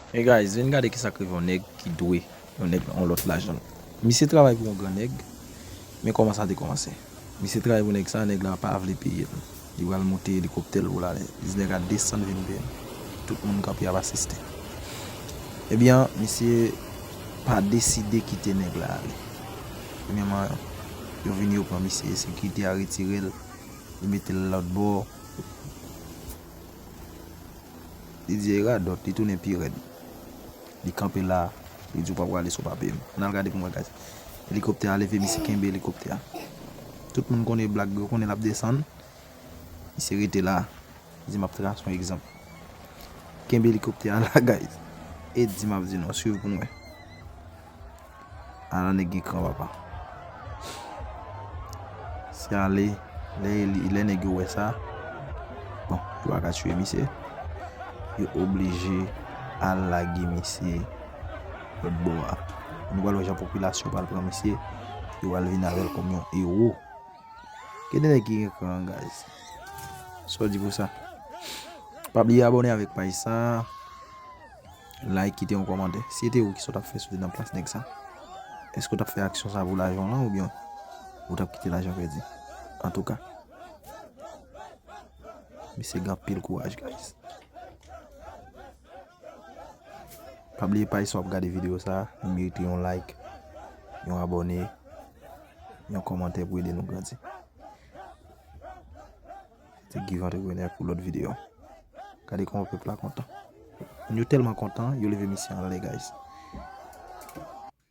Hey guys vin gade kisak rive yon nèg ki dwe yon nèg yon lòt lajanl misye travay pou yon gran nèg men kòman sa te kòmanse misye travay pou nèg sa nèg la pa vle peyel li pral moute elikoptèl poul ale diz nèg a desann vin peyel tout moun kanpe ap asiste ebyen misye pa deside kite nèg la ale premyèman yo vini yo pran misye sekirite a retirel yo metel lòtbò. Didier radòt li tounen pi rèd li kanpe la li di ou pa prale sou papyem an al gade pou mwen guys elikoptè a leve misye kenbe elikoptè a tout moun konnen blag yo konnen lap desann misye rete la li di map tras yon egzanp kenbe elikoptè a la guys et di map di nou swiv pou nou wè. A la nèg gen kran papa. Se ale lè nèg yo wè sa. Bon, yo pa ka tue misye. Yo oblije al lage misye lòt bò a. Nou pral wè jan popilasyon pral pran misye. Yo pral vin avèl kòm yon ewo. Gen de nèg ki gen kran guys. Sa w di pou sa? Pa bliye abone avèk paj sa. Like kite yon kòmantè. Si se te ou kisa w tap fè si w te nan plas nèg sa? Eske w tap fè aksyon sa pou lajan w lan oubyen ou tap kite lajan pèdi? Antouka Mesye gen anpil kouraj guys. Pa bliye paj sa wap gade video sa li merite yon like, yon abone, yon kòmantè pou ede nou grandi. Se Guy Entrepreneur pou lòt videyo. Gade kòman pèp la kontan. Moun yo tèlman kontan, yo leve misye anlè guys.